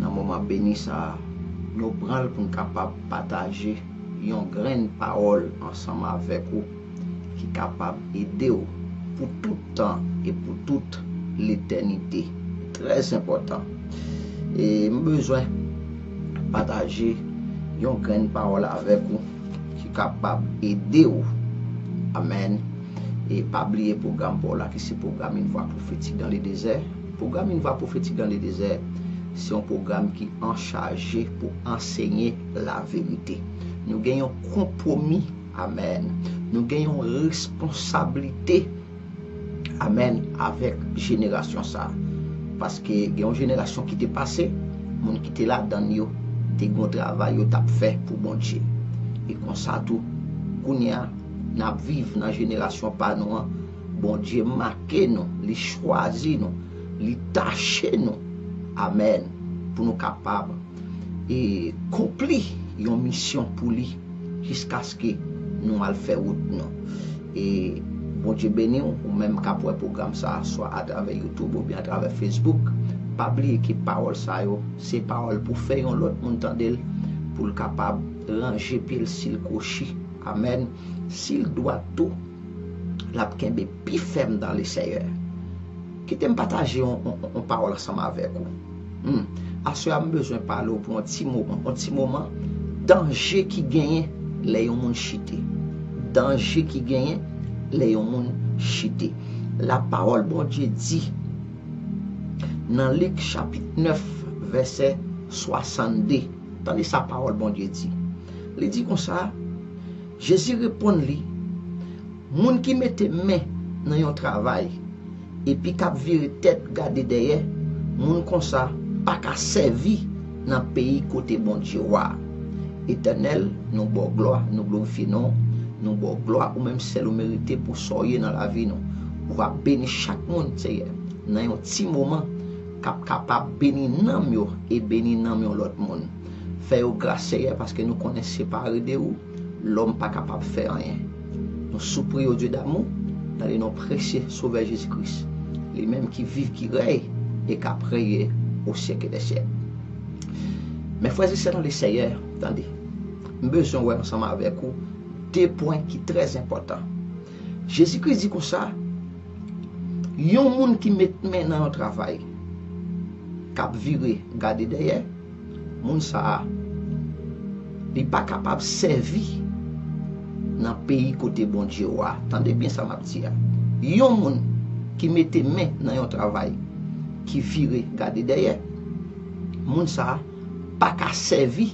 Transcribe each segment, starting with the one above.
Nan moman beni sa a, nou pran l pou n kapab pataje yon grenn pawòl ansanm avèk ou ki kapab ede w pou tout tan e pou tout letènite. Trè enpòtan! E m bezwen pataje yon grenn pawòl avèk ou ki kapab ede w. Amèn! E pa bliye pwogram pa w la ki se pwogram Une voix prophétique dans le désert. Pwogram Une voix prophétique dans le désert se yon pwogram ki anchaje pou ansenye laverite. Nou gen yon konpwomi, amèn, nou gen yon responsablite, amèn, avèk jenerasyon sa. Paske gen yon jenerasyon ki te pase, moun ki te ladan l yo te gen yon travay yo t ap fè pou Bondye. E konsa tou, kounye a, n ap viv nan jenerasyon pa nou an, Bondye make nou, li chwazi nou, li tache nou, amèn, pou nou kapab e konpli yon misyon pou li jiskaske nou al fè wout nou. E Bondye beni w, ou menm k ap wè pwogram sa a swa atravè YouTube oubyen atravè Facebook, pa bliye ke pawòl sa yo se pawòl pou fè yon lòt moun tande l pou l kapab ranje pye l si l kwochi, amèn, si l dwat tou. l ap kenbe pi fèm dan le Seyè. Kite m pataje yon pawòl ansanm avèk ou. Aswè a m bezwen pale ou pou yon ti moman, yon ti moman, danje ki genyen lè yon moun chite. Danje ki genyen lè yon moun chite. Lapawòl Bondye di nan Lik chapit 9 vèsè 62, tande sa pawòl Bondye di. Li di konsa. Jezi reponn li, Moun ki mete men nan yon travay epi k ap vire tèt gade dèyè, moun konsa pa ka sèvi nan peyi kote Bondye Wa a. Etènèl, nou ba w glwa, nou glorifye non w, nou ba w glwa, ou menm sèl ou merite pou sa w ye nan lavi nou. Ou va beni chak moun, Seyè, nan yon ti moman, k ap kapab beni nanm yo e beni nanm yon lòt moun. Fè yo gras Seyè paske nou konnen separe de ou lòm pa kapab fè anyen. Nou soupri o Dye damou nan le non presye Sovè Jezi Kris, li menm ki viv ki rèy e kap reye o syèke dè syèk. Men frè e sè nan le Seyè, tande. M bezwen wè ansanm avèk ou de pwen ki trè enpòtan. Jezi Kris di konsa, yon moun ki met men nan yon travay kap vire gade dèyè, Moun sa a li pa kapab sèvi nan peyi kote Bondye wa. Tande byen sa map di a. Yon moun ki mete men nan yon travay ki vire gade dèyè, moun sa a paka sèvi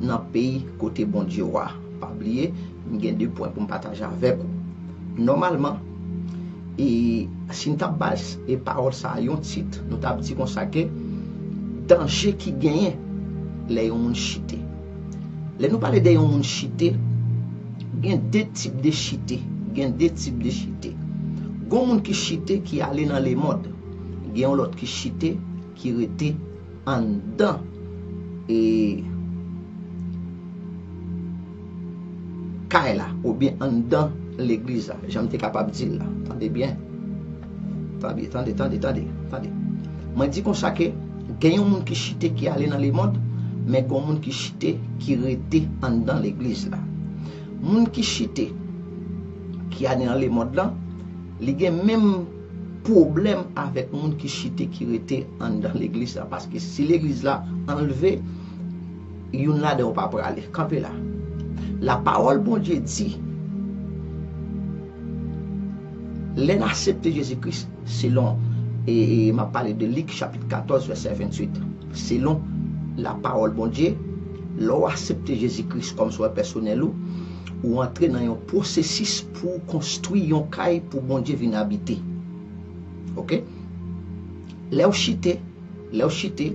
nan peyi kote Bondye wa. Pa bliye. M gen 2 pwen pou m pataje avèk ou. Nòmalman, e si n t ap bay e pawòl sa a yon tit, nou t ap di konsa ke danje ki genyen lè yon moun chite. Lè nou pale de yon moun chite, gen 2 tip de chite, gen 2 tip de chite. Gon moun ki chite ki ale nan lemond, gen yon lòt ki chite ki rete anndan e kay la oubyen anndan legliz la jan m te kapab di l la tande byen tande tande tande tande tande mwen di konsa ke gen yon moun ki chite ki ale nan lemond men gon moun ki chite ki rete anndan legliz la moun ki chite ki ale nan lemond lan li gen menm pwoblèm avèk moun ki chite ki rete anndan legliz la paske si legliz la anlve youn ladan yo pa prale kanpe la lapawòl Bondye di lè n asepte Jezi Kris selon m ap pale de Lik chapit 14 vèsè 28 selon lapawòl Bondye lè w asepte Jezi Kris kòm sovè pèsonèl ou ou antre nan yon pwosesis Pou ou konstwi yon kay pou Bondye vin abite. Ok. Lè ou chite, lè ou chite,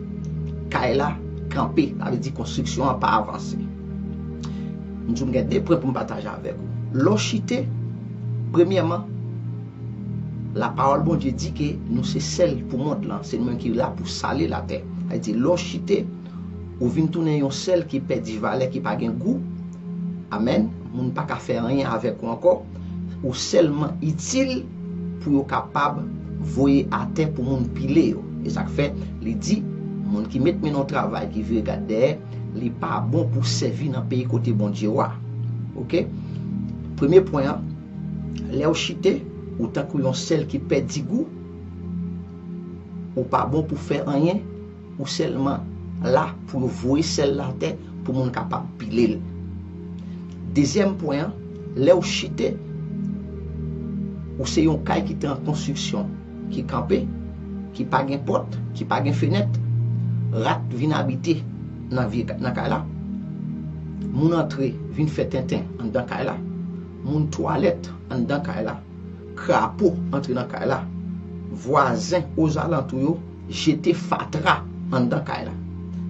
kay la kanpe. Sa vle di konstriksyon an pa avanse. M di w m gen 2 pwen pou m pataje avèk ou. Lè ou chite, premyèman, lapawòl Bondye di ke nou se sèl pou mond lan. Se nou menm ki la pou sale latè. Sa vle di lè ou chite. Ou vin tounen yon sèl ki pèdi valè ki pa gen gou. Amen moun pa ka fè anyen avèk ou ankò ou sèlman itil pou yo kapab voye atè pou moun pile yo e sak fè li di moun ki met men nan yon travay ki vire gad dèyè li pa bon pou sèvi nan peyi kote Bondye ou a ok premye pwen an lèw chite ou tankou yon sèl ki pèdi gou ou pa bon pou fè anyen Ou sèlman la pou yo voye sèl la atè pou moun kapab pile l. Dezyèm pwen an, lè ou chite, ou se yon kay ki te an konstriksyon, ki kanpe, ki pa gen pòt, ki pa gen fenèt. Rat vin abite nan vye nan kay la. Moun antre vin fè tenten anndan kay la. Moun twalèt anndan kay la. Krapo antre nan kay la. Vwazen ozalantou yo. jete fatra anndan kay la.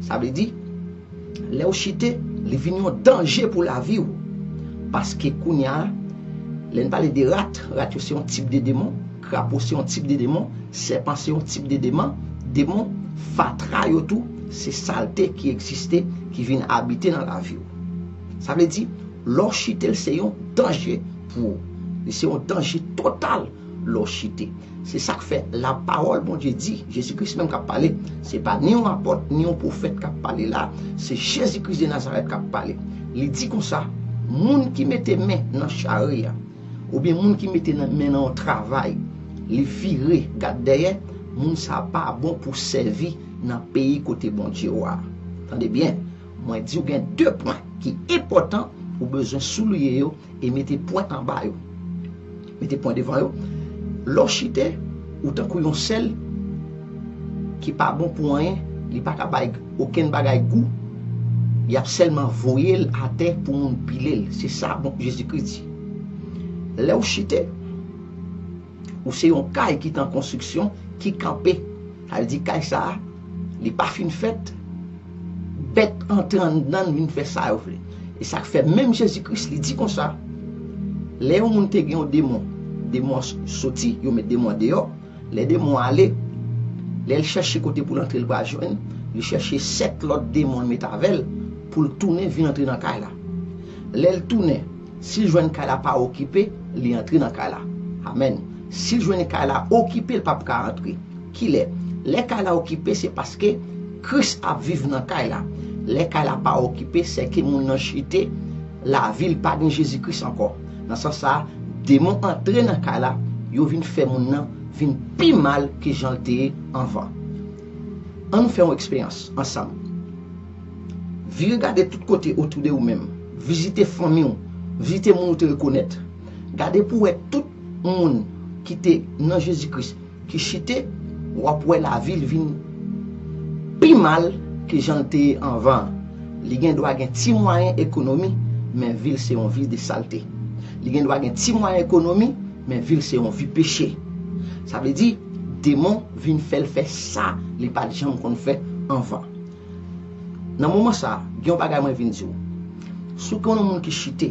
Sa vle di, lè ou chite, li vin yon danje pou lavi ou. Paske kounye a, lè n pale de rat, rat yo se yon tip de demon, krapo se yon tip de demon, sèpan se yon tip de deman, demon, fatra yo tou se salte ki egziste, ki vin abite nan lavi ou. Sa vle di, lè w chite l se yon danje pou ou. Li se yon danje total lè w chite. Se sa k fè, lapawòl Bondye di, Jezi Kris menm k ap pale, se pa ni yon apòt, ni yon pwofèt k ap pale la a, se Jezi Kris de Nazarèt k ap pale. Li di konsa, Moun ki mete men nan chari a, oubyen moun ki mete men nan yon travay, li vire gad dèyè, moun sa a pa bon pou sèvi nan peyi kote Bondye w a. Tande byen, mwen di w gen de pwen ki enpòtan ou bezwen souliye yo. E mete pwen anba yo. Mete pwen devan yo. Lè w chite, ou tankou yon sèl ki pa bon pou anyen, li pa ka bay okenn bagay gou, y ap sèlman voye l atè pou moun pile l. Se sa Jezikri di. Lè w chite. Ou se yon kay ki te an konstriksyon, ki kanpe. Sa vle di kay sa a, li pa fin fèt, bèt antre anndan l vin fè sa yo vle. E sa k fè menm Jezi Kris li di konsa, lè yon moun te gen yon demon, demon an soti, yo met demon an deyò, lè demon an ale, lè l chèche kote pou l antre l pa jwenn, li chèche sèt lòt demon l met avè l pou l tounen vin antre nan kay la. Lè l tounen. Sil jwenn kay la pa okipe li antre nan kay la amen sil jwenn kay la okipe li pap ka antre kilè lè kay la okipe se paske kris ap viv nan kay la lè kay la pa okipe sèke moun nan chite lavil pa gen jezi kris ankò nan sans sa demon antre nan kay la yo vin fè moun nan vin pi mal ke janl te ye anvan annou fè yon eksperyans ansanm. Vire gade tout kote otou de ou menm. Vizite fanmi ou. Vizite moun ou te rekonèt. Gade pou wè tout moun ki te nan Jezi Kris ki chite, w ap wè lavi l vin pi mal ke jan l te ye anvan an. Li gen dwa gen ti mwayen ekonomi, men vi l se yon vi de salte. Li gen dwa gen ti mwayen ekonomi, men vi l se yon vi peche. Sa vle di, demon vin fè l fè sa li pa t janm konn fè anvan. Nan moman sa, gen yon bagay mwen vin di w. Si w konnen yon moun ki chite,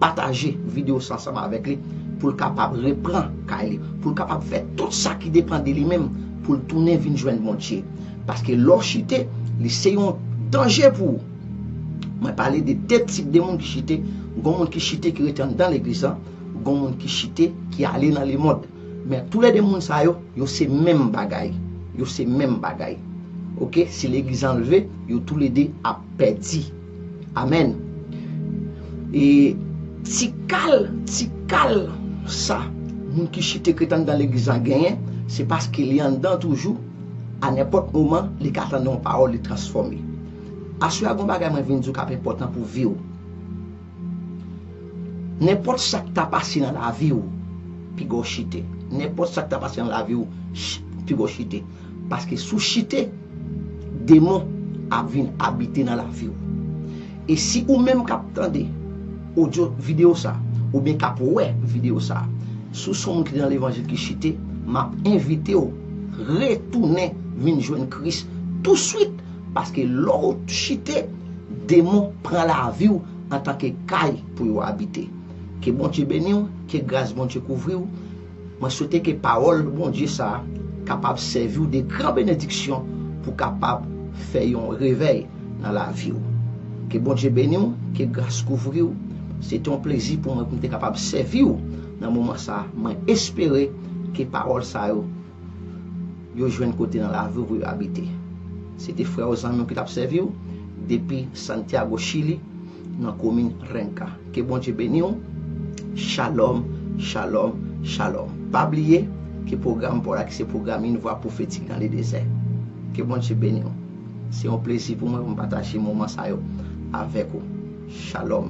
pataje videyo sa ansanm avèk li pou l kapab repran kay li, pou l kapab fè tout sa ki depan de li menm pou l tounen vin jwenn Bondye. Paske lè w chite, li se yon danje pou ou. Mwen pale de de tip de moun ki chite, gon moun ki chite ki rete anndan legliz lan, gon moun ki chite ki ale nan lemond. Men tou le 2 moun sa yo, yo se menm bagay. Yo se menm bagay. Ok, si legliz anlve, yo tou le 2 ap pedi. Amen. E ti kal, ti kal sa moun ki chite krete andan legliz lan genyen, se paske li andan toujou, a nenpot moman li ka tande yon pawol li transfome. Aswe a gon bagay mwen vin di w kap enpotan pou vi w. Nenpòt sa k ta pase nan lavi ou, piga w chite. Nenpòt sa k ta pase nan lavi ou, piga w chite. Paske si w chite, demon ap vin abite nan lavi ou. E si ou menm k ap tande odyo, videyo sa, oubyen k ap wè videyo sa, si w son moun ki te nan levanjil ki chite, m ap envite w retounen vin jwenn Kris touswit. Paske lè w chite, demon pran lavi w antanke kay pou yo abite. Ke Bondye beni w, ke gras Bondye kouvri w, mwen swete ke pawòl Bondye sa a kapab sèvi w de gran benediksyon pou kapab fè yon revèy nan lavi w. Ke Bondye beni w, ke gras kouvri w, se te yon plezi pou mwen pou m te kapab sèvi w nan moman sa a, mwen espere ke pawòl sa yo yo jwenn kote nan lavi w pou yo abite. Se te frè w, zanmi w ki t ap sèvi w depi Santiago, Chili, nan komin Renca. Ke Bondye beni w. Shalom, shalom, shalom. Pa bliye ke pwogram pa w la ki se pwogram Une voix prophétique dans le désert. Ke Bondye beni w. Se yon plezi pou mwen pou m pataje moman sa yo avèk ou. Shalom.